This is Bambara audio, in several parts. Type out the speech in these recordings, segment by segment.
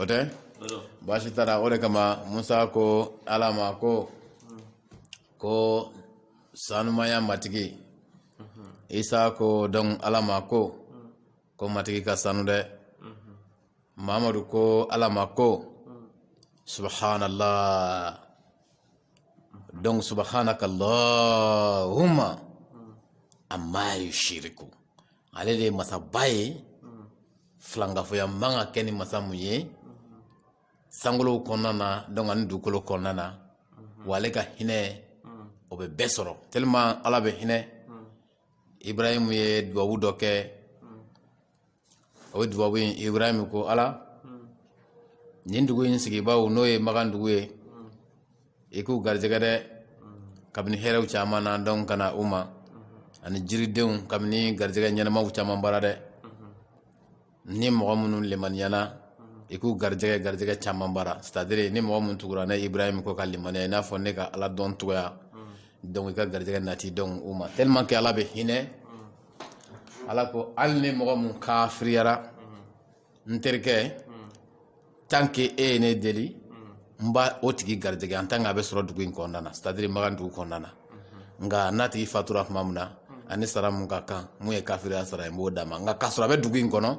o tɛ baasi tara o de kama musa ko ala ma ko ko sanumaya matigi isa ko donc ala ma ko ko matigi ka sanu dɛ mamadu ko ala ma ko subhanallah donc subhanaka allahumma amma yushiriku ale de masaba ye filankafoya man ka kɛ ni masa mun ye sankolow kɔnɔna na donc ani dugukolo kɔnɔna na wa ale ka hinɛ o bɛ bɛɛ sɔrɔ tellement ala bɛ hinɛ ibrahim ye dubabu dɔ kɛ o dubabu in ibrahim ko ala nin dugu in sigibaaw n'o ye makan dugu ye i k'u garijɛgɛ dɛ kabini hɛrɛw caman na donc ka na u ma ani jiridenw kabini garijɛgɛ ɲanamaw caman bara dɛ ni mɔgɔ minnu limaniyana i k'u garijɛgɛ garijɛgɛ caman bara c'est-à-dire ni mɔgɔ minnu tugura ne ibrahim kɔ ka limaniya i n'a fɔ ne ka ala dɔn cogoya donc i ka garijɛgɛ nati donc u ma tellement que ala bɛ hinɛ ala ko hali ni mɔgɔ min kafiriyara n terikɛ tant que e ye ne deli n b'o tigi garijɛgɛ en tant que a bɛ sɔrɔ dugu in kɔnɔna na c'est à dire makan dugu kɔnɔna na nka n'a tigi fatura tuma min na ani sara mun ka kan mun ye kafiriya sara ye n b'o d'a ma nka k'a sɔrɔ a bɛ dugu in kɔnɔ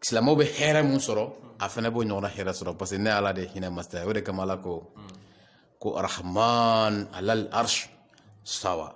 silamɛw bɛ hɛrɛ mun sɔrɔ a fana b'o ɲɔgɔnna hɛrɛ sɔrɔ parce que ne ala de hinɛ masa ye o de kama ala ko ko arahman alal arsh istawa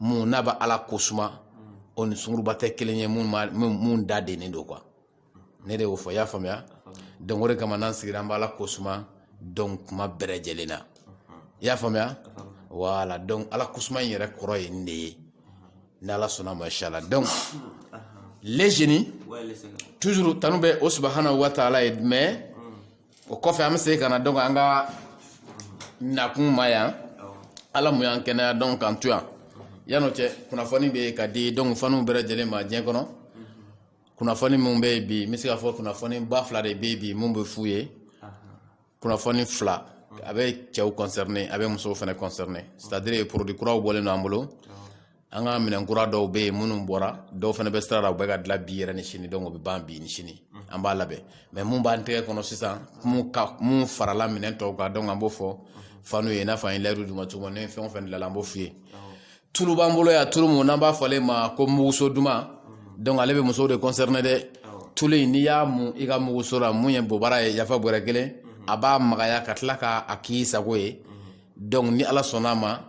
minnu n'a bɛ ala kosuma o ni sunguruba tɛ kelen ye minnu da dennen don quoi ne de y'o fɔ i y'a faamuya donc o de kama n'an sigira an bɛ ala kosuma donc kuma bɛɛ lajɛlen na i y'a faamuya voilà donc ala kosuma in yɛrɛ kɔrɔ ye nin de ye ni ala sɔnna ma inchallah donc les jeunes toujours tanu bɛ o subhanahu wa ta'ala ye mais o kɔfɛ an bɛ segin ka na donc an ka nakun ma yan ala mun y'an kɛnɛya donc k'an to yan yan'o cɛ kunnafoni bɛ yen ka di donc faniw bɛɛ lajɛlen ma diɲɛ kɔnɔ kunnafoni min bɛ yen bi n bɛ se k'a fɔ kunnafoni ba fila de bɛ yen bi mun bɛ f'u ye kunnafoni fila a bɛ cɛw concerné a bɛ musow fana concerné c'est à dire produit kuraw bɔlen don an bolo an ka minɛn kura dɔw bɛ yen minnu bɔra dɔw fana bɛ sira la u bɛ ka dilan bi yɛrɛ ni sini donc o bɛ ban bi ni sini an b'a labɛn mais mun b'an tɛgɛ kɔnɔ sisan mun farala minɛn tɔw kan donc an b'o fɔ faniw ye i n'a fɔ an ye layidu d'u ma cogo min na ni fɛn o fɛn dilanna an b'o f'u ye tulu b'an bolo yan tulu mun n'an b'a fɔ ale ma ko muguso duman donc ale bɛ musow de concerné dɛ tulu in n'i y'a mun i ka muguso la mun ye bobara ye yafa bɔrɛ kelen a b'a magaya ka tila k'a k'i sago ye donc ni ala sɔnna a ma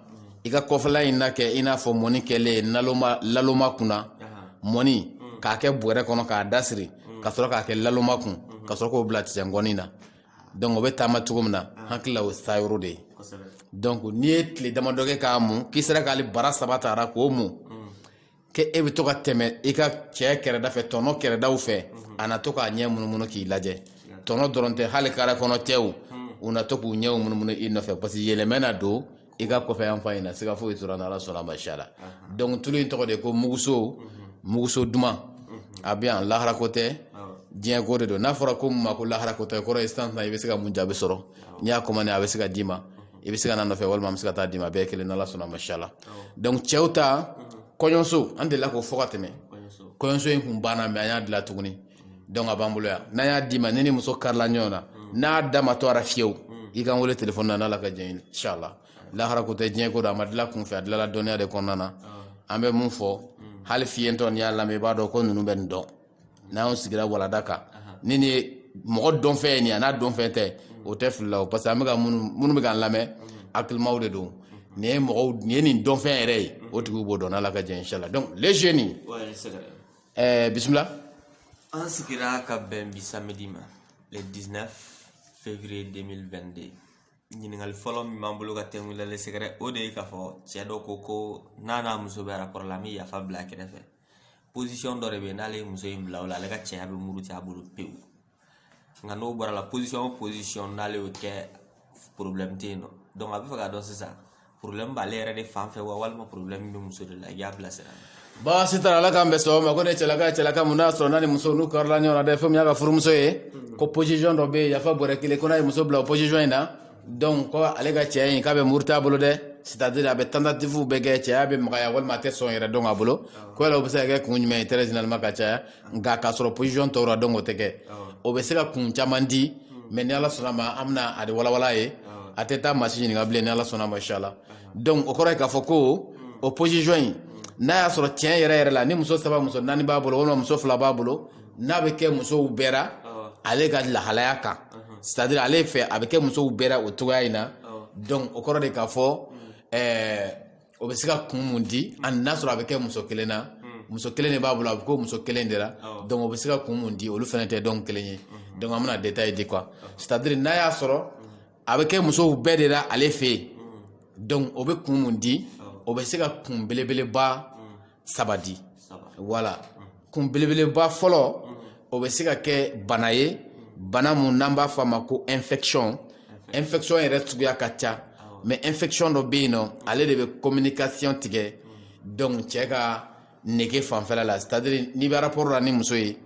i ka kɔfɛla in na kɛ i n'a fɔ mɔni kɛlen laloma kunna mɔni mm. k'a kɛ bɔrɛ kɔnɔ k'a dasiri mm. ka sɔrɔ k'a kɛ laloma kun mm. ka sɔrɔ k'o bila tisɛngɔni na donc o bɛ taama cogo min na ah. hakili la o sayɔrɔ de ye donc n'i ye tile damadɔ kɛ k'a mun k'i sera k'ale bara saba tara k'o mun k'e bɛ to ka tɛmɛ i ka cɛ kɛrɛda fɛ tɔnɔ kɛrɛdaw fɛ a na to k'a ɲɛ munumunu k'i lajɛ tɔnɔ dɔrɔn tɛ hali carré kɔnɔ cɛw u na to k'u ɲɛw munumunu i nɔfɛ parce que yɛlɛma na don i ka kɔfɛ yan fan in na siga foyi t'o ra n'ala sɔnna ma inshallah donc tulu in tɔgɔ de ko muguso muguso duman a bɛ yan lahara ko tɛ diɲɛ ko de don n'a fɔra ko mun ma ko lahara ko tɛ kɔrɔ ye sisan i bɛ se ka mun jaabi sɔrɔ n'i y'a commandé a bɛ se ka d'i ma i bɛ se ka n'a nɔfɛ walima an bɛ se ka taa d'i ma bɛɛ kelen n'ala sɔnna ma inshallah donc cɛw ta kɔɲɔso an delila k'o fɔ ka tɛmɛ kɔɲɔso in kun banna mais an y'a dilan tuguni donc a b'an bolo yan n'an y'a d'i ma n'i ni muso karila ɲɔgɔn na n'a da ma to a ra fiyewu i ka n wele telefɔni na n'ala ka jɛn inshallah lahara ko tɛ diɲɛ ko don a ma dilan kunfɛ a dilala dɔnniya de kɔnɔna na an bɛ mun fɔ hali fiyentɔ n'i y'a lamɛn i b'a dɔn ko ninnu bɛ nin dɔn n'an sigira walanda kan ni nin ye mɔgɔ dɔnfɛn ye nin an'a dɔnfɛn tɛ o tɛ fili la o parce que an bɛ ka minnu bɛ k'an lamɛn hakilimaw de don nin ye mɔgɔw nin ye nin dɔnfɛn yɛrɛ ye o tigiw b'o dɔn n'ala ka jɛn inshallah donc les jeunes ɛɛ bisimila an sigira ka bɛn bi samedi ma le 19 février 2022 ɲininkali fɔlɔ min b'an bolo ka t'e kun na le secret o de ye k'a fɔ cɛ dɔ ko ko n'a n'a muso bɛ rapport la an bɛ yafa bila kɛrɛfɛ position dɔ de bɛ yen n'ale ye muso in bila o la ale ka cɛya bɛ muruti a bolo pewu nka n'o bɔr'a la position o position n'ale y'o kɛ problème tɛ yen nɔ donc a b'a fɛ k'a dɔn sisan problème b'ale yɛrɛ de fan fɛ wa walima problème bɛ muso de la i y'a bilasira baasi t'a la ala k'an bɛn sɔgɔma ma ko ne cɛlaka ye cɛlaka mun n'a sɔrɔ n'a ni muso n'u karila ɲɔgɔn na dɛ fɛn min y'a ka furumuso ye ko position dɔ bɛ yen yafa bɔrɛ kelen ko n'a ye muso bila o position in na donc ko ale ka cɛya in k'a bɛ murut'a bolo dɛ c'est à dire a bɛ tentative bɛɛ kɛ cɛya bɛ magaya walima a tɛ sɔn yɛrɛ don a bolo ko yala o bɛ se ka kun jumɛn i tɛ sinama ka caya nka k'a sɔrɔ position tɔw ra donc o tɛ kɛ o bɛ se ka kun caman di mais ni ala sɔnna ma an bɛna a de walawala a ye a tɛ taa maa si ɲininka bilen ni ala sɔnna ma inshallah donc o kɔrɔ k'a fɔ ko o position in n'a y'a sɔrɔ cɛn yɛrɛ yɛrɛ la ni muso saba muso naani b'a bolo walima muso fila b'a bolo n'a bɛ kɛ musow bɛɛ la, awɔ, ale ka lahalaya kan, unhun, c'est à dire ale fɛ a bɛ kɛ musow bɛɛ la o cogoya in na, awɔ, donc o kɔrɔ de k'a fɔ ɛɛ o bɛ se ka kun mun di a n'a sɔrɔ a bɛ kɛ muso kelen na muso kelen de b'a bolo a bɛ k'o muso kelen de la Awɔ. donc o bɛ se ka kun mun di olu fana tɛ donc kelen ye donc an bɛna détail di quoi c'est à dire n'a y'a sɔrɔ a bɛ kɛ musow bɛɛ de la ale fɛ yen donc o bɛ kun mun di o bɛ se ka kun belebeleba saba di voilà kun belebeleba fɔlɔ o bɛ se ka kɛ bana ye bana mun n'an b'a fɔ a ma ko infection infection yɛrɛ suguya ka ca mais infection dɔ bɛ yen n'o ale de bɛ communication tigɛ donc cɛ ka nege fanfɛla la c'est à dire n'i bɛ rapport la ni muso ye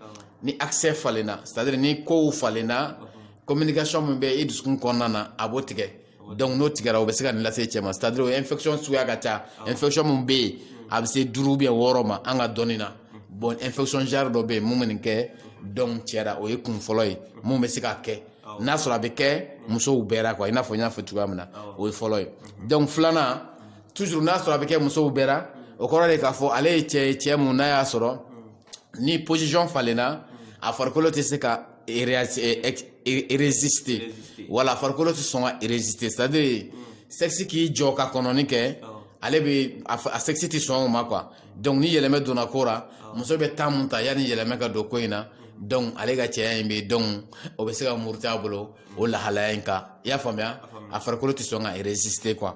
ni accès falenna c'est à dire ni kow falenna communication min bɛ i dusukun kɔnɔna na a b'o tigɛ. donc n'o tigɛra o bɛ se ka nin lase cɛ ma c'est à dire infection suguya ka ca infection min bɛ yen a bɛ se duuru ou bien wɔɔrɔ ma an ka dɔnni na bon infection yɛrɛ dɔ bɛ yen min bɛ nin kɛ donc cɛ la o ye kun fɔlɔ ye min bɛ se ka kɛ n'a sɔrɔ a bɛ kɛ musow bɛɛ la quoi i n'a fɔ n y'a fɔ cogoya min na o ye fɔlɔ ye donc filanan toujours n'a sɔrɔ a bɛ kɛ musow bɛɛ la o kɔrɔ de k'a fɔ ale ye cɛ ye cɛ mun n'a y'a sɔrɔ ni position falenna a farikolo tɛ se ka résister voilà a farikolo tɛ sɔn ka résister c'est à dire sexe k'i jɔ ka kɔnɔni kɛ ale bɛ a sexe tɛ sɔn o ma quoi donc ni yɛlɛmɛ donna ko la muso bɛ temps mun ta yanni yɛlɛmɛ ka don ko in na donc ale ka cɛya in bɛ donc o bɛ se ka muruti a bolo o lahalaya in kan i y'a faamuya a farikolo tɛ sɔn ka résister quoi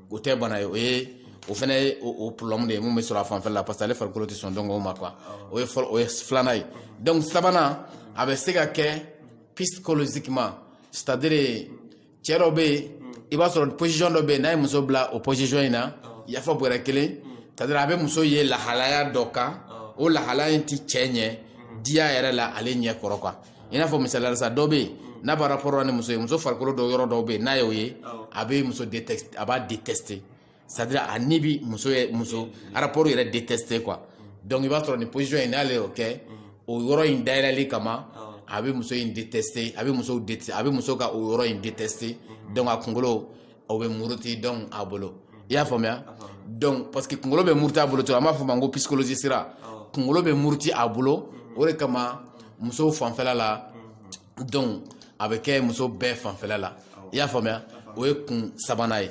o tɛ bana ye o ye o fana ye o problème de ye mun bɛ sɔrɔ a fanfɛ la parce que ale farikolo tɛ sɔn donc o ma quoi o ye fɔlɔ o ye filanan ye donc sabanan a bɛ se ka kɛ psychologiquement c'est à dire cɛ dɔ bɛ yen i b'a sɔrɔ position dɔ bɛ yen n'a ye muso bila o position in na yafa bɔrɛ kelen c'est à dire a bɛ muso ye lahalaya dɔ kan o lahalaya in tɛ cɛ ɲɛ diya yɛrɛ la ale ɲɛ kɔrɔ quoi i n'a fɔ misaliya la sa dɔ bɛ yen n'a b'a rapport ni muso ye muso farikolo dɔw yɔrɔ dɔw bɛ yen n'a y'o ye a bɛ muso détester a b'a détester c'est à dire a ni bi muso yɛ muso rapport yɛrɛ détester quoi donc i b'a sɔrɔ nin position in n'ale y'o kɛ o yɔrɔ in dayɛlɛli kama a bɛ muso in détester a bɛ muso détester a bɛ muso ka o yɔrɔ in détester donc a kunkolo o bɛ muruti donc a bolo i y'a faamuya donc parce que kunkolo bɛ muruti a bolo cogo an b'a fɔ a ma ko psychologie sira kunkolo bɛ muruti a bolo o de kama musow fanfɛla la donc a bɛ kɛ muso bɛɛ fanfɛla la i y'a faamuya o ye kun sabanan ye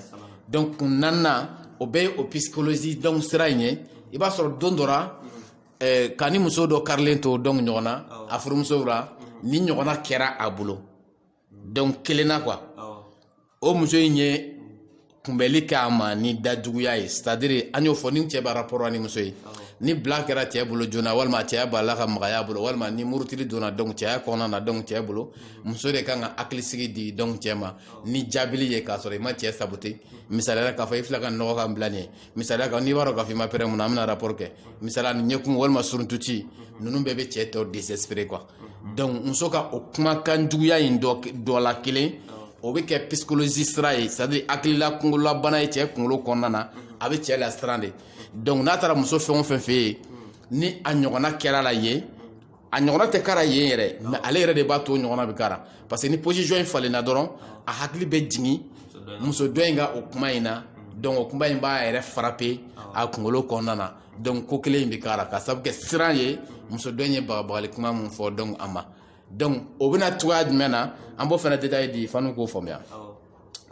donc kun naaninan o bɛɛ ye o psychologie donc sira in ye i b'a sɔrɔ don dɔ ra eh, kanimuso dɔ karilen to donc ɲɔgɔn na a furumusow la nin ɲɔgɔnna kɛra a bolo donc kelen na quoi o muso in ye kunbɛli kɛ a ma ni dajuguya ye c'est à dire an y'o fɔ ni cɛ b'a rapport ni muso ye ni bila kɛra cɛ bolo joona walima a cɛya bala ka magaya a bolo walima ni murutili donna donc cɛya kɔnɔna na donc cɛ bolo muso de kan ka hakilisigi di donc cɛ ma ni jaabili ye k'a sɔrɔ i ma cɛ saboter misaliya la k'a fɔ i fila ka nɔgɔ ka bila nin ye misaliya kan n'i b'a dɔn k'a fɔ i ma prêt mun na an bɛna rapport kɛ misaliya ni ɲɛkumu walima suruntuci ninnu bɛɛ bɛ cɛ tɔ désespérer quoi donc muso ka o kumakan juguya in dɔ la kelen o bɛ kɛ psychologie sira ye c'est à dire hakilila kunkololabana ye cɛ kunkolo kɔnɔna na a bɛ cɛ lasiran de donc n'a taara muso fɛn o fɛn fɛ yen ni a ɲɔgɔnna kɛra a la yen a ɲɔgɔnna tɛ k'a la yen yɛrɛ mais ale yɛrɛ de b'a to ɲɔgɔnna bɛ k'a la parce que ni position in falenna dɔrɔn a hakili bɛ jigin muso dɔ in ka o kuma in na donc o kuma in b'a yɛrɛ frapper a kunkolo kɔnɔna na donc ko kelen in bɛ k'a la ka sabu kɛ siran ye muso dɔ in ye bagabagali kuma min fɔ donc a ma donc o bɛ na cogoya jumɛn na an b'o fana détail di fanu k'o faamuya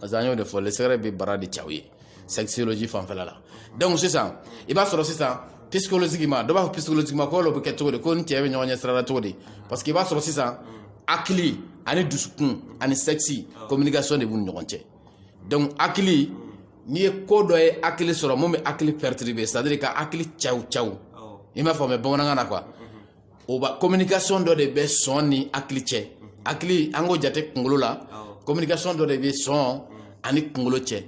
parce que an y'o de fɔ le secret bɛ baara de k'aw ye sexologie fanfɛla la donc sisan i b'a sɔrɔ sisan psychologiquement dɔ b'a fɔ psychologiquement ko o bɛ kɛ cogo di ko ni cɛ bɛ ɲɔgɔn ɲɛ sira la cogo di parce que i b'a sɔrɔ sisan hakili ani dusukun ani sexe communication de b'u ni ɲɔgɔn cɛ donc hakili n'i ye ko dɔ ye hakili sɔrɔ mun bɛ hakili perturber c'est à dire ka hakili caw caw i m'a faamuya bamanankan na quoi o ba communication dɔ de bɛ sɔn ni hakili cɛ hakili an k'o jate kunkolo la communication dɔ de bɛ sɔn ani kunkolo cɛ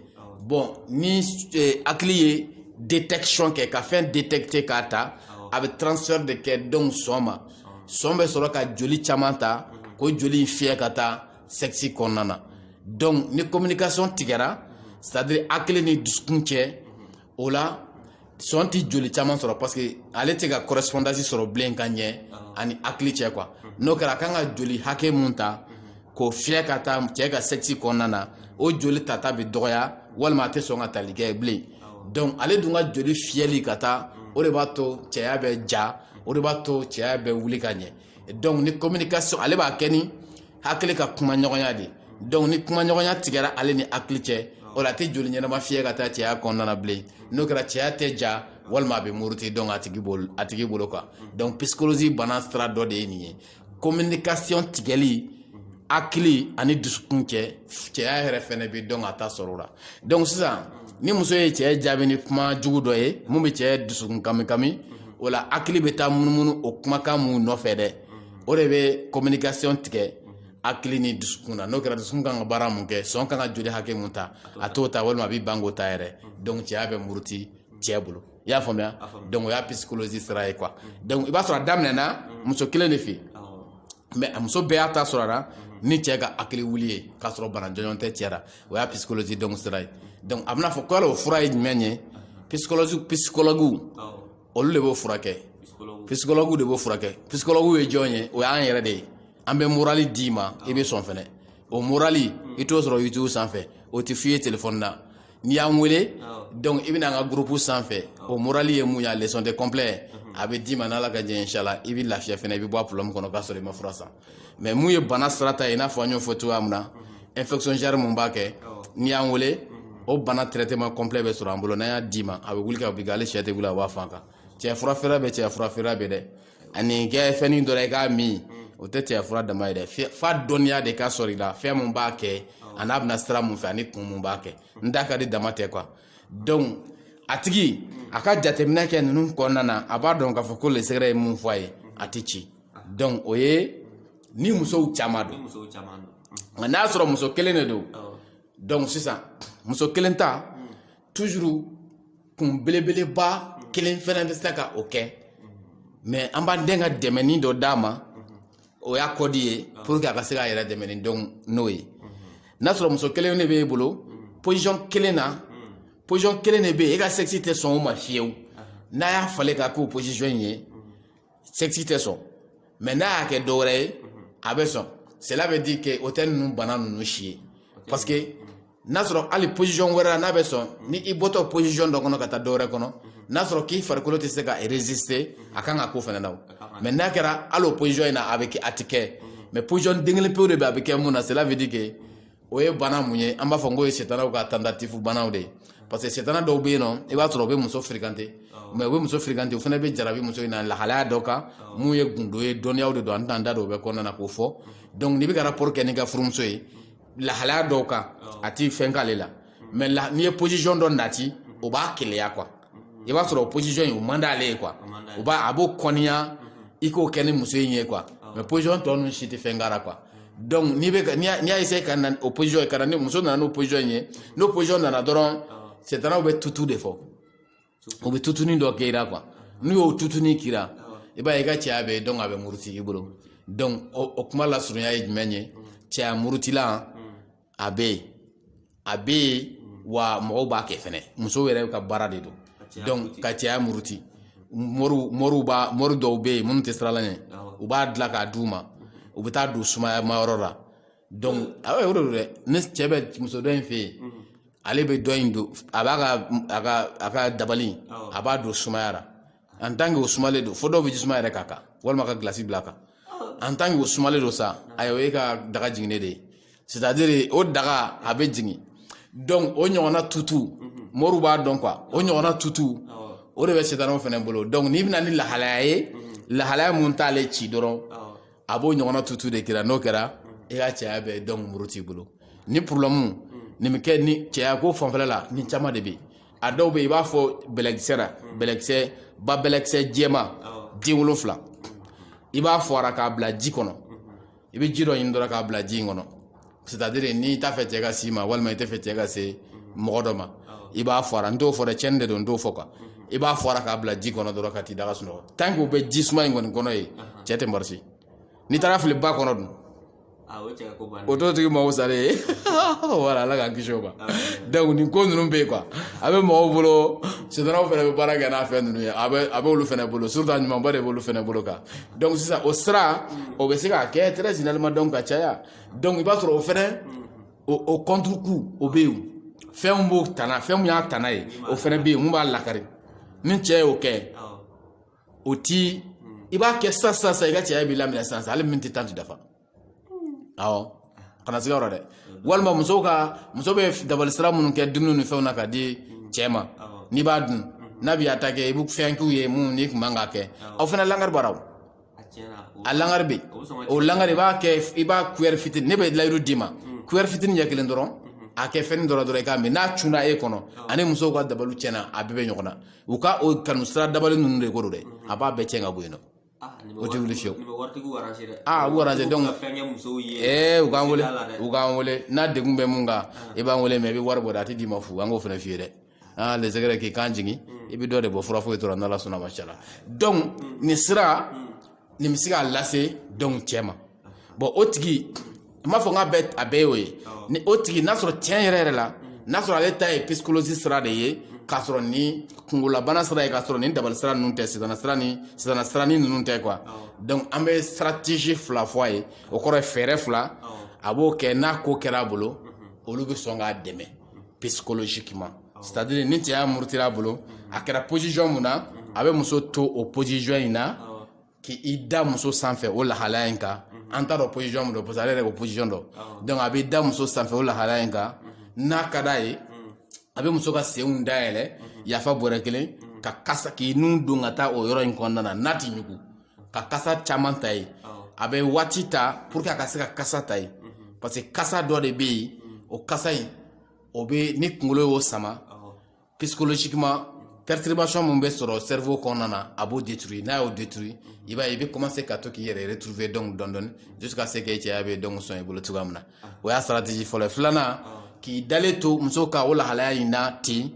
bon ni eh, hakili ye détection kɛ ka fɛn détecter k'a ta a bɛ transfert de kɛ donc sɔn ma sɔn bɛ sɔrɔ ka joli caman ta k'o joli in fiyɛ ka taa sexe kɔnɔna na donc ni communication tigɛra c'est à dire hakili ni dusukun cɛ o la sɔn tɛ joli caman sɔrɔ parce que ale tɛ ka correspondance sɔrɔ bilen ka ɲɛ ani hakili cɛ quoi n'o kɛra a kan ka joli hakɛ mun ta k'o fiyɛ ka taa cɛ ka sexe kɔnɔna na o joli tata bɛ dɔgɔya walima a tɛ sɔn ka tali kɛ bilen donc ale dun ka joli fiyɛli ka taa o de b'a to cɛya bɛ ja o de b'a to cɛya bɛ wuli ka ɲɛ donc ni communication ale b'a kɛ ni hakili ka kumaɲɔgɔnya de donc ni kumaɲɔgɔnya tigɛra ale ni hakili cɛ o la a tɛ joli ɲɛnama fiyɛ ka taa cɛya kɔnɔna na bilen n'o kɛra cɛya tɛ ja walima a bɛ muruti donc a tigi bolo quoi donc psychologie bana sira dɔ de ye nin ye communication tigɛli hakili ani dusukun cɛ cɛya yɛrɛ fɛnɛ bɛ donc a ta sɔrɔ o la donc sisan ni muso ye cɛ jaabi ni kuma jugu dɔ ye mun bɛ cɛ dusukun kami kami o la hakili bɛ taa munumunu o kumakan mun nɔfɛ dɛ o de bɛ communication tigɛ hakili ni dusukun na n'o kɛra dusukun kan ka baara mun kɛ sɔn kan ka joli hakɛ mun ta a t'o ta walima a b'i ban k'o ta yɛrɛ donc cɛya bɛ muruti cɛ bolo i y'a faamuya donc o y'a psychologie sira ye quoi donc i b'a sɔrɔ a daminɛna muso kelen de fɛ mais a muso bɛɛ y'a ta sɔrɔ a la ni cɛ ka hakili wuli ye k'a sɔrɔ bana jɔnjɔn tɛ cɛ la o y'a psychologie donc sira ye donc a bɛna fɔ ko yala o fura ye jumɛn ye psychologie psychologue olu de b'o furakɛ psychologue de b'o furakɛ psychologue ye jɔn ye o y'an yɛrɛ de ye an bɛ morali d'i ma i bɛ sɔn fɛnɛ o morali i t'o sɔrɔ youtube sanfɛ o tɛ f'i ye telefɔni na n'i y'an wele donc i bɛ na an ka gurupu sanfɛ o morali ye mun ye a leçon de complet a bɛ d'i ma n'ala ka jɛ inshallah i bɛ lafiya fɛnɛ i bɛ bɔ a problème kɔnɔ k'a sɔrɔ i ma fura san mais mun ye bana sira ta ye i n'a fɔ an y'o fɔ cogoya min na infection genre mun b'a kɛ n'i y'an wele o bana traitement complet bɛ sɔrɔ an bolo n'an y'a d'i ma a bɛ wuli ka b'i kan hali sɛ tɛ wuli a b'a fan kan cɛ fura feere bɛ cɛ fura feere bɛ dɛ ani kɛ fɛnnin dɔ la i k'a min o tɛ cɛ fura dama ye dɛ fo dɔnniya de ka sɔrɔ i la fɛn mun b'a kɛ an'a bɛ na sira mun fɛ ani kun mun b'a kɛ n da ka di dama tɛ quoi donc a tigi a ka jateminɛ kɛ ninnu kɔnɔna na a b'a dɔn k'a fɔ ko le secret ye mun fɔ a ye a tɛ ci donc o ye ni musow caman don nka n'a sɔrɔ muso kelen de don donc sisan muso kelen ta kun belebeleba kelen fɛnɛ bɛ se ka o kɛ mais an b'an den ka dɛmɛni dɔ d'a ma o y'a kɔdi ye pour que a ka se k'a yɛrɛ dɛmɛ ni donc n'o ye n'a sɔrɔ muso kelen de b'e bolo position kelen na position kelen de bɛ yen e ka sexe tɛ sɔn o ma fiyewu n'a y'a falen k'a k'o position in ye sexe tɛ sɔn mais n'a y'a kɛ dɔwɛrɛ ye a bɛ sɔn cela veut dire que o tɛ ninnu bana ninnu si ye parce que n'a sɔrɔ hali position wɛrɛ la n'a bɛ sɔn ni i bɔtɔ position dɔ kɔnɔ ka taa dɔwɛrɛ kɔnɔ n'a sɔrɔ k'i farikolo tɛ se ka résister a kan ka ko fana na mais n'a kɛra hali o position in na a bɛ kɛ a tɛ kɛ mais position den kelen pewu de bɛ a bɛ kɛ mun na cela veut dire que o ye bana mun ye an b'a fɔ n ko ye setanaw ka tentative banaw de ye parce que setana dɔw bɛ yen nɔ i b'a sɔrɔ u bɛ muso fréquenter mais u bɛ muso fréquenter o fana bɛ jarabi muso in na lahalaya dɔ kan mun ye gundo ye dɔnniyaw de don an tɛna an da don o bɛɛ kɔnɔna na k'o fɔ donc n'i bɛ ka rapport kɛ n'i ka furumuso ye lahalaya dɔw kan a tɛ fɛn k'ale la mais n'i ye position dɔ nati o b'a keleya quoi i b'a sɔrɔ o position in o man d'ale ye quoi o b'a a b'o kɔniya i k'o kɛ ni muso in ye quoi mais position tɔ ninnu si tɛ fɛn k'a ra quoi donc n'i bɛ n'i y'a essayer ka na o position ye ka na ni muso nana n'o position in ye n'o position nana dɔrɔn setanaw bɛ tutu de fɔ u bɛ tutuni dɔ kɛ i la quoi n'u y'o tutuni k'i la i b'a ye i ka cɛya bɛ donc a bɛ muruti i bolo donc o kuma lasurunya ye jumɛn ye cɛya murutilan a bɛ yen a bɛ yen wa mɔgɔw b'a kɛ fɛnɛ musow yɛrɛ ka baara de don donc ka cɛya muruti moriw moriw b'a mori dɔw bɛ yen minnu tɛ siran ala ɲɛ u b'a dilan k'a d'u ma u bɛ t'a don sumayama yɔrɔ la donc aw ye o de don dɛ ni cɛ bɛ muso dɔ in fɛ yen ale bɛ dɔ in don a b'a ka a ka a ka dabali a b'a don sumaya la en tant que o sumalen don fo dɔw bɛ ji suma yɛrɛ k'a kan walima ka gilasi bila a kan en tant que o sumalen don sa ayiwa e ka daga jiginnen de ye c'est à dire o daga a bɛ jigin donc o ɲɔgɔnna tutu moriw b'a dɔn quoi o ɲɔgɔnna tutu o de bɛ setanaw fɛnɛ bolo donc n'i bɛ na ni lahalaya ye lahalaya mun t'ale ci dɔrɔn a b'o ɲɔgɔnna tutu de kira n'o kɛra i ka cɛya bɛ donc murut'i bolo ni problème nin bɛ kɛ ni cɛya ko fanfɛla la ni caman de bɛ a dɔw bɛ i b'a fɔ bɛlɛkisɛ la bɛlɛkisɛ ba bɛlɛkisɛ jɛma den wolonfila i b'a fɔ a ra k'a bila ji kɔnɔ i bɛ ji dɔ ɲini dɔrɔn k'a bila ji in kɔnɔ c'est-à-dire n'i t'a fɛ cɛ ka s'i ma walima i tɛ fɛ cɛ ka se mɔgɔ dɔ ma i b'a fɔ a ra n t'o fɔ dɛ cɛnni de don n t'o fɔ quoi i b'a fɔ a ra k'a bila ji kɔnɔ dɔrɔn ka t'i da ka sunɔgɔ tant que o bɛ ji suma in kɔni kɔnɔ ye cɛ tɛ marcher n'i taar'a fili ba kɔnɔ dun o t'o tigi mago salen ye voilà ala k'an kisi o ma donc nin ko ninnu bɛ yen quoi a bɛ mɔgɔw bolo sitanɛw fana bɛ baara kɛ n'a fɛn ninnu ye a bɛ a b'olu fana bolo surtout a ɲumanba de b'olu fana bolo kan donc sisan o sira o bɛ se k'a kɛ très généralement donc ka caya donc i b'a sɔrɔ o fana o contrecoup o bɛ yen fɛn b'o tana fɛn min y'a tana ye o fana bɛ yen min b'a lakari ni cɛ y'o kɛ o ti i b'a kɛ sisan sisan i ka cɛya b'i laminɛ sisan hali miniti tan tɛ dafa ɔ kana siga yɔrɔ dɛ walima muso ka muso bɛ dabali sira minnu kɛ dumuni ni fɛnw na ka di cɛ ma n'i b'a dun n'a b'i attaquer i bɛ fɛn k'u ye min i tun man k'a kɛ o fana lankari b'a ra a langari bɛ o langari i b'a kɛ i b'a cuillère fitini ne bɛ layidu d'i ma cuillère fitini ɲɛ kelen dɔrɔn a kɛ fɛn dɔrɔn dɔrɔn i k'a min n'a cunna e kɔnɔ ani musow ka dabali tiɲɛna a bɛɛ bɛ ɲɔgɔn na u ka o kanu sira dabali ninnu de ko don dɛ a b'a bɛɛ cɛn ka bɔ yen nɔ o tɛ wuli fiyewu aa u arranger donc ee u k'an wele u k'an wele n'a degun bɛ min kan i b'an wele mais i bɛ wari bɔ dɛ a tɛ d'i ma fu an k'o fana f'i ye dɛ aa les secrets k'i kan jigin i bɛ dɔ de bɔ fura foyi t'o ra n'ala sɔnna mashallah donc nin sira nin bɛ se k'a lase donc cɛ ma bon o tigi n m'a fɔ n k'a bɛɛ a bɛɛ y'o ye ni o tigi n'a sɔrɔ tiɲɛ yɛrɛ yɛrɛ la n'a sɔrɔ ale ta ye psychologie sira de ye k'a sɔrɔ ni kungolobana sira ye k'a sɔrɔ ni dabali sira ninnu tɛ sitanɛ sira ni sitanɛ sira ni ninnu tɛ quoi donc an bɛ stratégie fila fɔ a ye o kɔrɔ ye fɛɛrɛ fila a b'o kɛ n'a ko kɛra a bolo olu bɛ sɔn k'a dɛmɛ psychologiquement c'est à dire ni cɛya murutira a bolo a kɛra position min na a bɛ muso to o position in na k'i da muso sanfɛ o lahalaya in kan an t'a dɔn position mun don parce que ale yɛrɛ k'o position dɔn donc a b'i da muso sanfɛ o lahalaya in kan n'a ka da ye a bɛ muso ka senw dayɛlɛ yafa bɔrɛ kelen ka kasa k'i nun don ka taa o yɔrɔ in kɔnɔna na n'a ti ɲugu ka kasa caman ta ye a bɛ waati ta pour que a ka se ka kasa ta ye parce que kasa dɔ de bɛ yen o kasa in o bɛ ni kunkolo y'o sama psychologiquement perturbation min bɛ sɔrɔ cerveau kɔnɔna na a b'o détruire n'a y'o détruire i b'a ye i bɛ commencer ka to k'i yɛrɛ retrouver donc dɔɔni dɔɔni jusqu'à ce que i cɛya bɛ donc sɔn i bolo cogoya min na o y'a stratégie fɔlɔ ye filanan k'i dalen to muso kan o lahalaya in na ten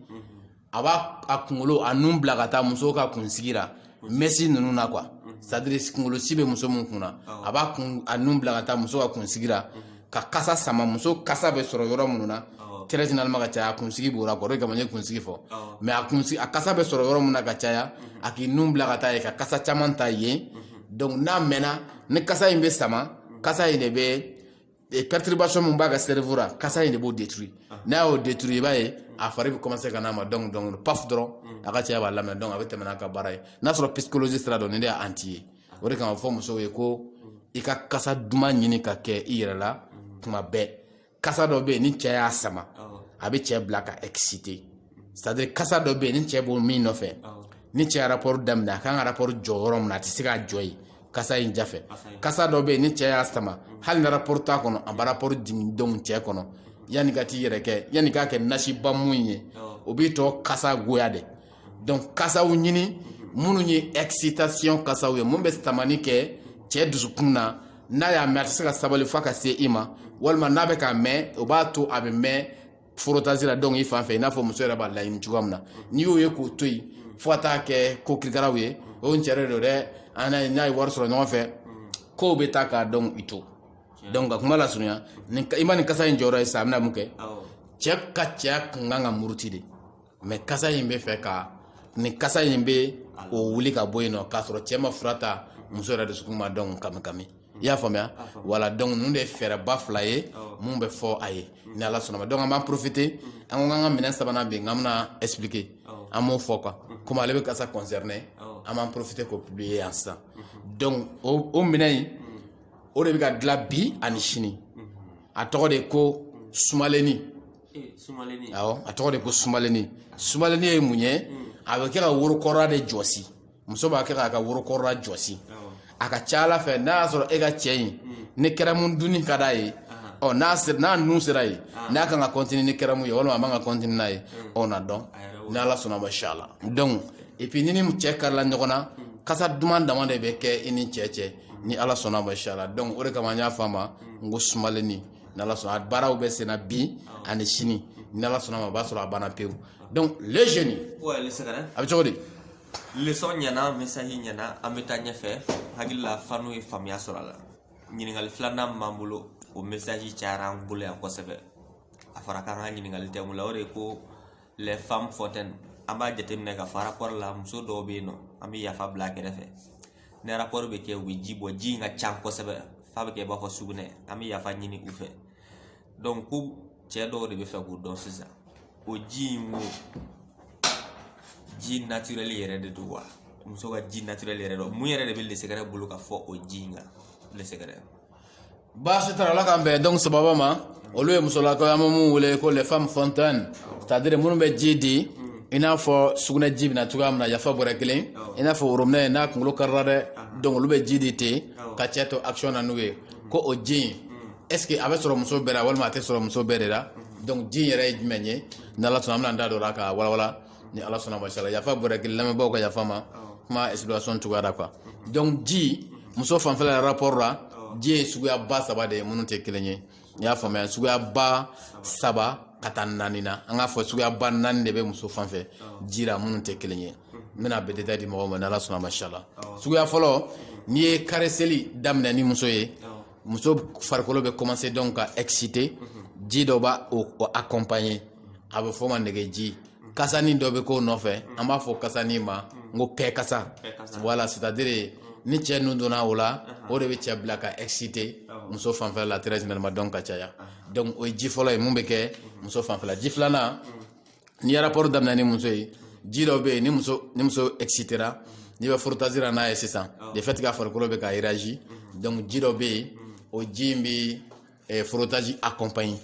a b'a a kunkolo a nun bila ka taa muso ka kunsigi la mɛsi ninnu na quoi c'est-à-dire kunkolosi bɛ muso min kun na a b'a kun a nun bila ka taa muso ka kunsigi la ka kasa sama muso kasa bɛ sɔrɔ yɔrɔ minnu na très généralement ka caya a kunsigi b'o la quoi o de kama n ye kunsigi fɔ mais a kunsigi a kasa bɛ sɔrɔ yɔrɔ min na ka caya a k'i nun bila ka taa yen ka kasa caman ta yen donc n'a mɛnna ni kasa in bɛ sama kasa in de bɛ perturbation min b'a ka cerveau la kasa in de b'o détruire n'a y'o détruire i b'a ye a fari bɛ commencer ka n'a ma donc donc paf dɔrɔn a ka cɛya b'a lamɛn donc a bɛ tɛmɛ n'a ka baara ye n'a sɔrɔ psychologie sira dɔ nin de y'a anti ye o de kama fɔ musow ye ko i ka kasa duman ɲini ka kɛ i yɛrɛ la tuma bɛɛ kasa dɔ bɛ yen ni cɛ y'a sama a bɛ cɛ bila ka exciter c'est-à-dire kasa dɔ bɛ yen ni cɛ b'o min nɔfɛ ni cɛ rapport daminɛ a kan ka rapport jɔ yɔrɔ min na a tɛ se k'a jɔ yen kasa in jafɛ kasa dɔ bɛ yen ni cɛ y'a sama hali ni rapport t'a kɔnɔ a bɛ rapport jigin don cɛ kɔnɔ yanni ka t'i yɛrɛ kɛ yanni k'a kɛ nasiba mun ye o b'i tɔ kasa goya de donc kasaw ɲini minnu ye excitation kasaw ye min bɛ tamani kɛ cɛ dusukun na n'a y'a mɛn a tɛ se ka sabali f'a ka se i ma walima n'a bɛ k'a mɛn o b'a to a bɛ mɛn frottage la donc i fan fɛ i n'a fɔ muso yɛrɛ b'a laɲini cogoya min na n'i y'o ye k'o to yen fo ka taa kɛ ko kirikaraw ye o n cɛrɛ don dɛ an n'a ye wari sɔrɔ ɲɔgɔn fɛ kow bɛ taa k'a dɔn i to donc ka kuma lasurunya i ma nin kasa in jɔyɔrɔ ye sa a bɛna mun kɛ cɛ ka cɛya kun kan ka muruti de mais kasa in bɛ fɛ ka nin kasa in bɛ o wuli ka bɔ yen nɔ k'a sɔrɔ cɛ ma fura ta muso yɛrɛ dusukun ma dɔn kami kami i y'a faamuya voilà donc ninnu de ye fɛɛrɛba fila ye min bɛ fɔ aw ye ni ala sɔnna ma donc an b'an profiter an ko k'an ka minɛn sabanan bɛ yen k'an bɛna expliquer an b'o fɔ quoi comme ale bɛ kasa concerner an b'an profiter k'o publier yan sisan donc o minɛn in o de bɛ ka dilan bi ani sini a tɔgɔ de ko sumalenni a tɔgɔ de ko sumalennin sumalennin ye mun ye a bɛ kɛ ka worokɔrɔla de jɔsi muso b'a kɛ k'a ka worokɔrɔla jɔsi a ka ca ala fɛ n'a y'a sɔrɔ e ka cɛ in ni kɛrɛmu dunni ka d'a ye ɔ n'a sera n'a nun sera yen n'a kan ka continuer ni kɛrɛmu ye walima a man ka continuer n'a ye o na dɔn ni ala sɔnna ma inchallah donc et puis n'i ni cɛ gɛrɛla ɲɔgɔn na kasa duman dama de bɛ kɛ i ni cɛ cɛ ni ala sɔnna ma inchallah donc o de kama n y'a fɔ a ma n ko sumalennin n'ala sɔnna a baaraw bɛ senna bi ani sini n'ala sɔnna ma o b'a sɔrɔ a banna pewu donc le jeune a bɛ cogo di leçon ɲɛna message ɲɛna an bɛ taa ɲɛfɛ hakili la fanu ye faamuya sɔrɔ a la ɲininkali filanan min b'an bolo o message cayara an bolo yan kosɛbɛ a fɔra k'an ka ɲininkali tɛ mun la o de ye ko les femmes fontaines an b'a jateminɛ ka fɔ rapport la muso dɔw bɛ yen nɔ an bɛ yafa bila a kɛrɛfɛ ni rapport bɛ kɛ u bɛ ji bɔ ji in ka ca kosɛbɛ f'a bɛ kɛ i b'a fɔ sugunɛ an bɛ yafa ɲini u fɛ donc ko cɛ dɔw de bɛ fɛ k'o dɔn sisan o ji in o ji naturel yɛrɛ de don wa muso ka ji naturel yɛrɛ don mun yɛrɛ de bɛ lesɛgɛrɛ bolo ka fɔ o ji in kan lesɛgɛrɛ baasi t'a ra ala k'an bɛn donc sababa ma olu ye musolakaw an bɛ mun wele ko les femmes fontaines c'est-à-dire minnu bɛ ji di i n'a fɔ sugunɛ ji bɛ na cogoya min na yafa bɔrɛ kelen i n'a fɔ robinet ye n'a kunkolo karila dɛ donc olu bɛ ji di ten ka cɛ to action na n'o ye ko o ji in est ce que a bɛ sɔrɔ muso bɛɛ la walima a tɛ sɔrɔ muso bɛɛ de la donc ji in yɛrɛ ye jumɛn ye n'ala sɔnna an bɛna an da don o la ka walawala ni ala sɔnna ma inchallah yafa bɔra k'i lamɛnbaaw ka yafa ma kuma explication cogoya ra quoi donc ji muso fanfɛla rapport la ji ye suguya ba saba de ye minnu tɛ kelen ye n'i y'a faamuya suguya ba saba ka taa naani na an k'a fɔ suguya ba naani de bɛ muso fanfɛ ji la minnu tɛ kelen ye n bɛna bɛɛ détail di mɔgɔw ma ni ala sɔnna ma inchallah suguya fɔlɔ n'i ye caresseli daminɛ ni muso ye muso farikolo bɛ commencer donc ka exciter ji dɔ b'o accompagner a bɛ f'o ma nɛgɛji kasani dɔ bɛ k'o nɔfɛ an b'a fɔ kasani ma n ko kɛ kasa voilà c'est à dire ni cɛ nun donna o la o de bɛ cɛ bila ka exciter muso fanfɛla la très généralement donc ka caya donc o ye ji fɔlɔ ye min bɛ kɛ muso fanfɛla ji filanan n'i ye rapport daminɛ ni muso ye ji dɔ bɛ yen ni muso ni muso excitera n'i bɛ frottage ra n'a ye sisan de fait que a farikolo bɛ ka réagir donc ji dɔ bɛ yen o ji in bɛ eh, frottage accompagner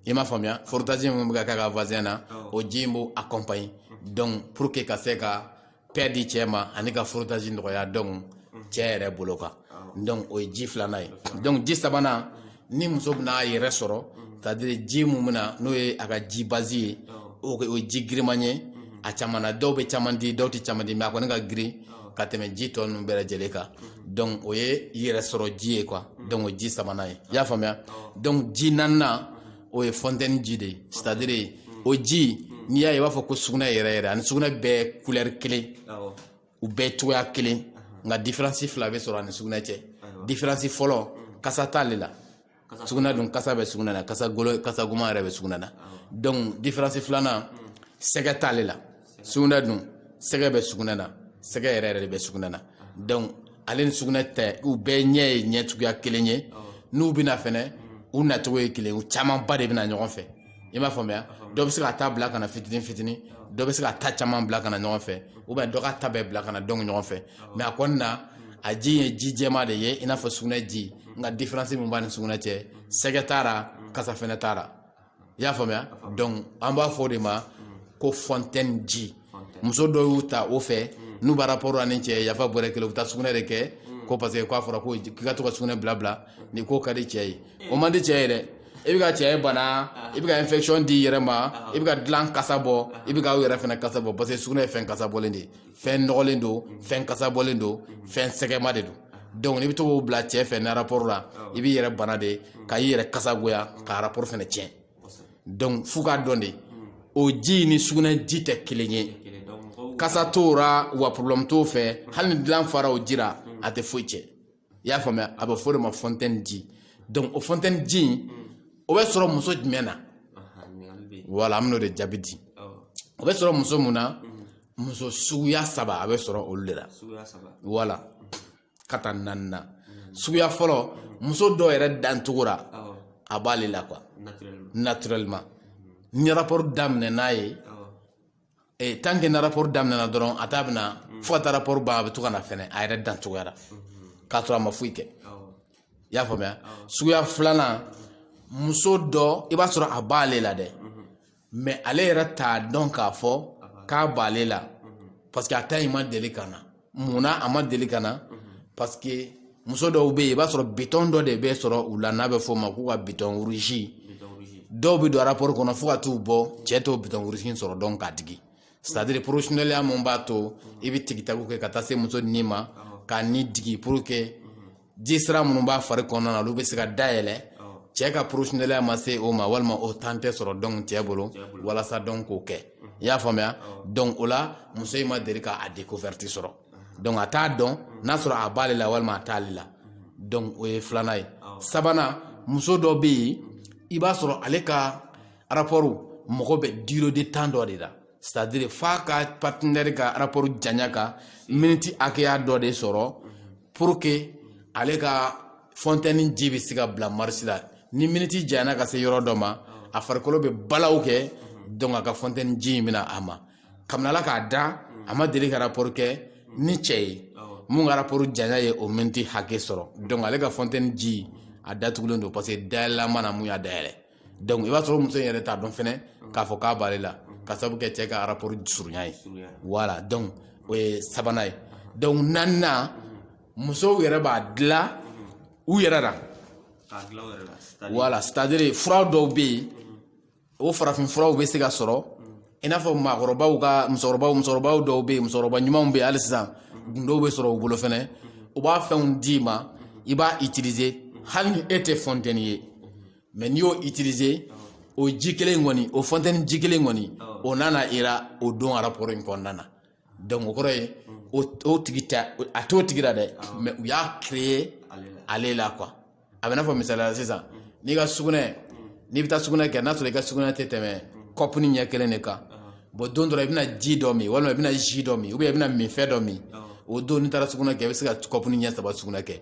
i m'a faamuya frottage min bɛ ka k'a ka vagin na o ji in b'o accompagner donc pour que ka se ka paix di cɛ ma ani ka frottage nɔgɔya donc cɛ yɛrɛ bolo kan donc o ye ji filanan ye donc ji sabanan ni muso bɛna a yɛrɛ sɔrɔ c'est-à-dire ji min bɛ na n'o ye a ka ji base ye o ye ji giriman ye a caman na dɔw bɛ caman di dɔw tɛ caman di mais a kɔni ka girin ka tɛmɛ ji tɔ ninnu bɛɛ lajɛlen kan donc o ye yɛrɛ sɔrɔ ji ye quoi donc o ye ji sabanan ye i y'a faamuya donc ji naaninan o ye fontaine ji de ye c'est-à-dire o ji n'i y'a ye i b'a fɔ ko sugunɛ yɛrɛ yɛrɛ ani sugunɛ bɛɛ couleur kelen u bɛɛ cogoya kelen nka différence fila bɛ sɔrɔ ani sugunɛ cɛ différence fɔlɔ kasa t'ale la sugunɛ dun kasa bɛ sugunɛ na kasa golo kasa goman yɛrɛ bɛ sugunɛ na donc différence filanan sɛgɛ t'ale la sugunɛ dun sɛgɛ bɛ sugunɛ na sɛgɛ yɛrɛ yɛrɛ de bɛ sugunɛ na donc ale ni sugunɛ tɛ u bɛɛ ɲɛ ye ɲɛ cogoya kelen ye n'u bɛ na fɛnɛ u nacogo ye kelen u camanba de bɛ na ɲɔgɔn fɛ i m'a faamuya dɔ bɛ se k'a ta bila ka na fitinin fitinin dɔ bɛ se k'a ta caman bila ka na ɲɔgɔn fɛ ou bien dɔ k'a ta bɛɛ bila ka na donc ɲɔgɔn fɛ mais a kɔni na a ji ye ji jɛma de ye i n'a fɔ sugunɛ ji nka différence min b'a ni sugunɛ cɛ sɛgɛ t'a ra kasa fɛnɛ t'a ra i y'a faamuya donc an b'a fɔ o de ma ko fontaine ji muso dɔw y'u ta o fɛ n'u bɛ rapport la ni cɛ yafa bɔrɛ kelen u bɛ taa sugunɛ de kɛ ko parce que k'a fɔra ko k'i ka to ka sugunɛ bila bila nin k'o ka di cɛ ye o man di cɛ ye dɛ i bɛ ka cɛ bana i bɛ ka infection di i yɛrɛ ma i bɛ ka dilan kasa bɔ i bɛ ka aw yɛrɛ fɛnɛ kasa bɔ parce que sugunɛ ye fɛn kasa bɔlen de ye fɛn nɔgɔlen don fɛn kasa bɔlen don fɛn sɛgɛma de don donc n'i bɛ to k'o bila cɛ fɛ ni rapport la i b'i yɛrɛ bana de ka i yɛrɛ kasa goya ka rapport fɛnɛ tiɲɛ donc f'u k'a dɔn de o ji ni sugunɛ ji tɛ kelen ye kasa t'o ra wa problème t'o fɛ hali ni dilan fara o ji la a tɛ foyi tiɲɛ i y'a faamuya a bɛ fɔ o de ma fontaine ji donc o fontaine ji in o bɛ sɔrɔ muso jumɛn na voilà an bɛn'o de jaabi di o bɛ sɔrɔ muso mun na muso suguya saba a bɛ sɔrɔ olu de la voilà ka taa naani na mm. suguya fɔlɔ mm. muso dɔw yɛrɛ dancogo la a b'ale la quoi naturellement mm. ni rapport daminɛ n'a ye eh, tant que ni rapport daminɛna dɔrɔn a ta bɛ na fo ka taa rapport ban a bɛ to ka na fɛnɛ a yɛrɛ dancogoya la mm-hmm. k'a sɔrɔ a ma foyi kɛ i y'a faamuya suguya filanan muso dɔ i b'a sɔrɔ a b'ale la dɛ mais ale yɛrɛ t'a dɔn k'a fɔ k'a b'ale la parce que a ta in ma deli ka na mun na a ma deli ka na parce que muso dɔw bɛ yen i b'a sɔrɔ bitɔn dɔ de bɛ sɔrɔ u la n'a bɛ f'o ma k'u ka bitɔn rouge dɔw bɛ don rapport kɔnɔ fo ka t'u bɔ cɛ t'o bitɔn rouge sɔrɔ donc k'a digi c'est à dire professionnelya min b'a to i bɛ tigitago kɛ ka taa se muso nin ma ka nin digi pour que ji sira minnu b'a fari kɔnɔna na olu bɛ se ka dayɛlɛ cɛ ka professionnelya ma se o ma walima o temps tɛ sɔrɔ donc cɛ bolo walasa donc k'o kɛ i y'a faamuya donc o la muso in ma deli k'a découverte sɔrɔ donc a t'a dɔn n'a sɔrɔ a b'ale la walima a t'ale la donc o ye filanan ye sabanan muso dɔ bɛ yen i b'a sɔrɔ ale ka rapport mago bɛ durée de temps dɔ de la c'est à dire f'a ka partenaire ka rapport janya ka miniti hakɛya dɔ de sɔrɔ pour que ale ka fontaine ji bɛ se ka bila marche la ni miniti janyana ka se yɔrɔ dɔ ma a farikolo bɛ balaw kɛ donc a ka fontaine ji in bɛ na a ma kabini Ala k'a da a ma deli ka rapport kɛ ni cɛ ye min ka rapport janya ye o miniti hakɛ sɔrɔ donc ale ka fontaine ji a datugulen don parce que dayɛlɛla ma na min y'a dayɛlɛ donc i b'a sɔrɔ muso yɛrɛ t'a dɔn fɛnɛ k'a fɔ k'a b'ale la ka sabu kɛ cɛ ka rapport surunya ye voilà donc o ye sabanan ye donc naaninan musow yɛrɛ b'a dilan u yɛrɛ la voilà c'est à dire fura dɔw bɛ yen o farafin furaw bɛ se ka sɔrɔ i n'a fɔ maakɔrɔbaw ka musokɔrɔbaw musokɔrɔbaw dɔw bɛ yen musokɔrɔba ɲumanw bɛ yen hali sisan gundow bɛ sɔrɔ u bolo fɛnɛ u b'a fɛnw d'i ma i b'a utiliser hali ni e tɛ fontaine ye mais n'i y'o utiliser o ji kelen in kɔni o fontaine ji kelen in kɔni o nana i ra o don rapport in kɔnɔna na donc o kɔrɔ ye o tigi tɛ a t'o tigi la dɛ mais u y'a créer ale la quoi a bɛ n'a fɔ misaliya la sisan n'i ka sugunɛ n'i bɛ taa sugunɛ kɛ n'a sɔrɔ i ka sugunɛ tɛ tɛmɛ kɔpuni ɲɛ kelen de kan bon don dɔ la i bɛna ji dɔ min walima i bɛna jus dɔ min ou bien i bɛna minfɛn dɔ min o don n'i taara sugunɛ kɛ i bɛ se ka kɔpuni ɲɛ saba sugunɛ kɛ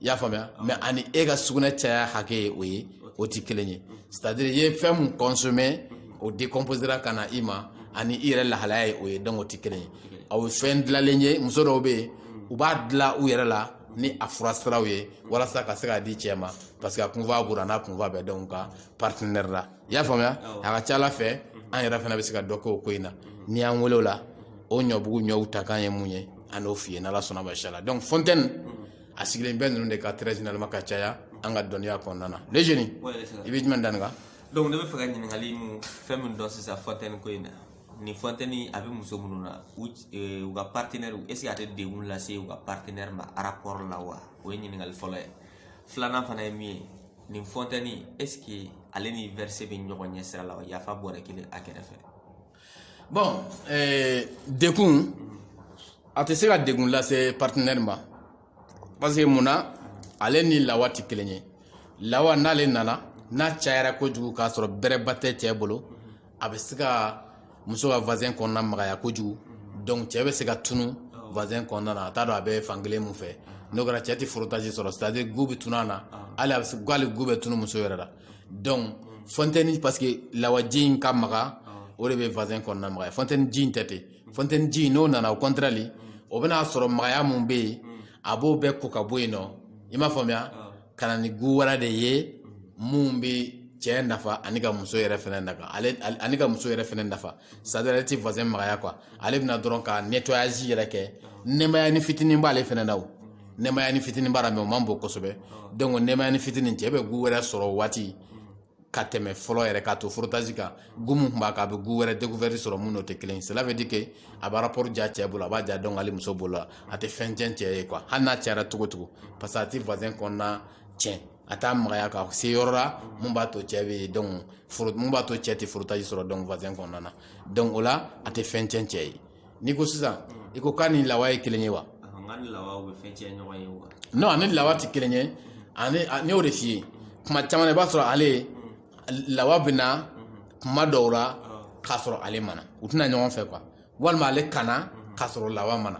i y'a faamuya mais ani e ka sugunɛ caya hakɛ ye o ye o tɛ kelen ye c'est à dire i ye fɛn min consommer o décomposera ka na i ma ani i yɛrɛ lahalaya ye o ye donc o tɛ kelen ye aw fɛn dilanlen ye muso dɔw bɛ yen u b'a dilan u yɛrɛ la ni a fura siraw ye walasa ka se k'a di cɛ ma parce que a kunfa b'u la n'a kunfa bɛ donc u ka partenaire la i y'a faamuya a ka c'a la fɛ an yɛrɛ fana bɛ se ka dɔ kɛ o ko in na n'i y'an wele o la o ɲɔbugu ɲɔw ta k'an ye mun ye an n'o f'i ye n'ala sɔnna ma inchallah donc fontaine a sigilen bɛ ninnu de kan très généralement ka caya an ka dɔnniya kɔnɔna na les jeunes i bɛ jumɛn danni kan donc ne bɛ fɛ ka ɲininkali mun fɛn min dɔn sisan fontaine ko in na ni fontaine a bɛ muso minnu na u eh, u ka partenaire est ce que a tɛ degun lase u ka partenaire ma rapport la wa o ye ɲininkali fɔlɔ ye filanan fana ye min ye nin fontaine est ce que ale ni verser bɛ ɲɔgɔn ɲɛ sira la wa yafa bɔrɛ kelen a kɛrɛfɛ bon eh, degun a tɛ se ka degun lase partenaire ma parce que mun na ale ni lawa tɛ kelen ye lawa n'ale nana n'a cayara kojugu k'a sɔrɔ bɛrɛba tɛ cɛ bolo a bɛ se ka muso ka vagin kɔnɔna magaya kojugu donc cɛ bɛ se ka tunun vagin kɔnɔna na a t'a dɔn a bɛ fankelen min fɛ n'o kɛra cɛ tɛ frottage sɔrɔ c'est à dire gu bɛ tunu a na hali a bɛ se hali gu bɛ tunu muso yɛrɛ la donc fontaine parce que lawaji in ka maga o de bɛ vagin kɔnɔna magaya fontaine ji in tɛ ten fontaine ji n'o nana au contraire o bɛna a sɔrɔ magaya min bɛ yen a b'o bɛɛ ko ka bɔ yen nɔ i m'a faamuya ka na ni gu wɛrɛ de ye mun bɛ cɛ nafa ani ka muso yɛrɛ fɛnɛ nafa ani ka muso yɛrɛ fɛnɛ nafa c'est à dire ale tɛ vagin magaya quoi ale bɛna dɔrɔn ka nettoyage yɛrɛ kɛ nɛmayanin fitinin b'ale fɛnɛ na o nɛmayanin fitinin b'a la mais o man bon kosɛbɛ donc nɛmayanin fitinin cɛ bɛ gu wɛrɛ sɔrɔ o waati ka tɛmɛ fɔlɔ yɛrɛ k'a to frottage kan gu min tun b'a kan a bɛ gu wɛrɛ découverte sɔrɔ min n'o tɛ kelen ye cela veut dire que a bɛ rapport diya cɛ bolo a b'a diya donc hali muso bolo la a tɛ fɛn tiɲɛ cɛ ye quoi hali n'a cayara cogo cogo parce que a tɛ vagin kɔnɔna tiɲɛ a t'a magaya ka se yɔrɔ la mun b'a to cɛ bɛ donc mun b'a to cɛ tɛ frottage sɔrɔ donc vagin kɔnɔna na donc o la a tɛ fɛn tiɲɛ cɛ ye n'i ko sisan i ko k'a ni lawa ye kelen ye wa non a ni lawa tɛ kelen ye ani ne y'o de f'i ye kuma caman i b'a sɔrɔ ale lawa bɛ na kuma dɔw la k'a sɔrɔ ale ma na u tɛ na ɲɔgɔn fɛ quoi walima ale ka na k'a sɔrɔ lawa ma na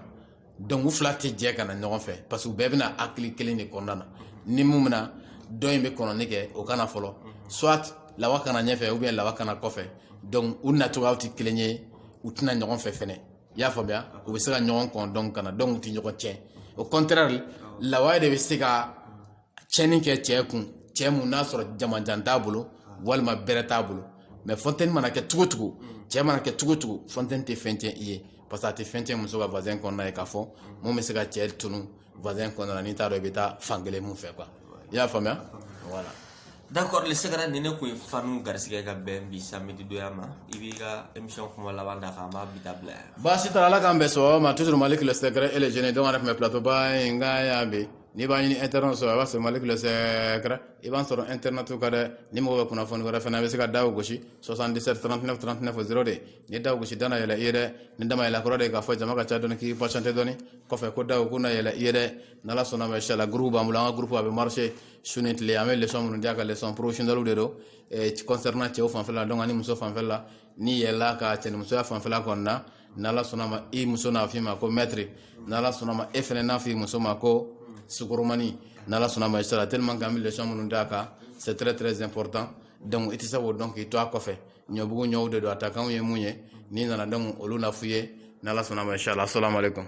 donc u fila tɛ jɛ ka na ɲɔgɔn fɛ parce que u bɛɛ bɛ na hakili kelen de kɔnɔna na ni min bɛ na dɔ in bɛ kɔnɔni kɛ o ka na fɔlɔ soit lawa ka na ɲɛfɛ ou bien lawa ka na kɔfɛ donc u nacogoyaw tɛ kelen ye u tɛ na ɲɔgɔn fɛ fɛnɛ i y'a faamuya u bɛ se ka ɲɔgɔn kɔn donc ka na donc u tɛ ɲɔgɔn tiɲɛ au contraire lawa de bɛ se ka a tiɲɛni kɛ cɛ kun cɛ mun n'a sɔrɔ jamajan t'a bolo walima bɛrɛ t'a bolo mais fontaine mana kɛ cogo cogo cɛ mana kɛ cogo cogo fontaine tɛ fɛn tiɲɛ i ye parce que a tɛ fɛn tiɲɛ muso ka vagin kɔnɔna ye k'a fɔ mun bɛ se ka cɛ tunu vagin kɔnɔna n'i t'a dɔn i bɛ taa fan kelen mun fɛ quoi i y'a faamuya voilà d'accord le secret ni ne kun ye fanu garisigɛ ka bɛn bi samedi donya ma i b'i ka émission kuma laban da k'an b'a bi ta bila yan baasi t'a la ala k'an bɛn sɔgɔma toujours malick le secret et le génie donc an yɛrɛ tun bɛ plateau ba in kan yan bi n'i b'a ɲini internet sɔrɔ a b'a sɔrɔ malick le secret i b'a sɔrɔ internet kan dɛ ni mɔgɔ bɛ kunnafoni wɛrɛ fana bɛ se ka daw gosi 77 39 39 02 ni daw gosi da na yɛlɛ i ye dɛ ni da ma yɛlɛ kɔrɔ de k'a fɔ jama ka ca dɔɔni k'i patienter dɔɔni kɔfɛ ko daw ko na yɛlɛ i ye dɛ n'ala sɔnna ma inshallah groupe b'an bolo an ka groupe a bɛ marcher su ni tile an bɛ leçon minnu di a kan leçon professionnel de don concernant cɛw fanfɛla donc ani muso fanfɛla n'i yɛlɛla a kan cɛnimusoya fanfɛla kɔni na ni ala sɔnna ma i muso n'a f'i ma ko maître ni ala sɔnna ma e fana n'a f'i muso ma ko sukoromani ni ala sɔnna ma inshallah tellement que an bɛ leçon minnu d'a kan c'est très très important donc i tɛ se k'o dɔn k'i to a kɔfɛ ɲɔbugu ɲɔw de don a takanw ye mun ye n'i nana donc olu na f'i ye ni ala sɔnna ma inshallah assalamu alaikum